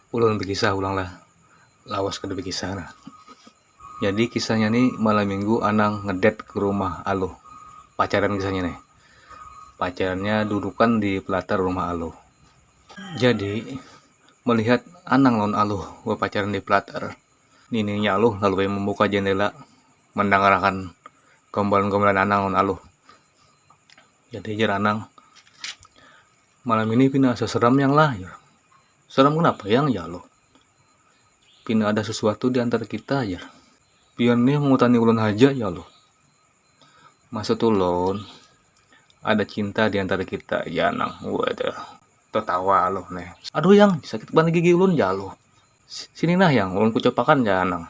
ulun bekisah pulang lah lawas kada bekisah nah jadi kisahnya ni malam minggu anang ngedet ke rumah aluh pacaran kisahnya nih pacarannya dudukan di pelatar rumah aluh jadi melihat anang lawan aluh bepacaran di pelatar nininya aluh lalu ai membuka jendela mendengar akan gombolan-gombolan anang lawan aluh jadi jar anang. Malam ini pina asa seram yang lah ya. Seram kenapa yang ya lo? Pina ada sesuatu di antara kita ya. Pian nih mengutani ulun haja ya lo. Maksud ulun ada cinta di antara kita ya nang. Waduh. Tertawa lo nih. Aduh yang sakit banget gigi ulun ya lo. Sini nah yang ulun kucopakan ya nang.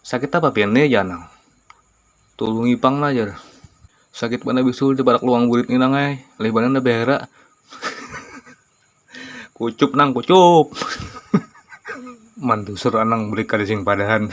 Sakit apa pian ne jar nang. Tulungi pang lah jar. Sakit banar bisul di parak luang burit ni nang ai, lih banar nda behera. kucup nang kucup. Mantusur anang beri kadasing padahan.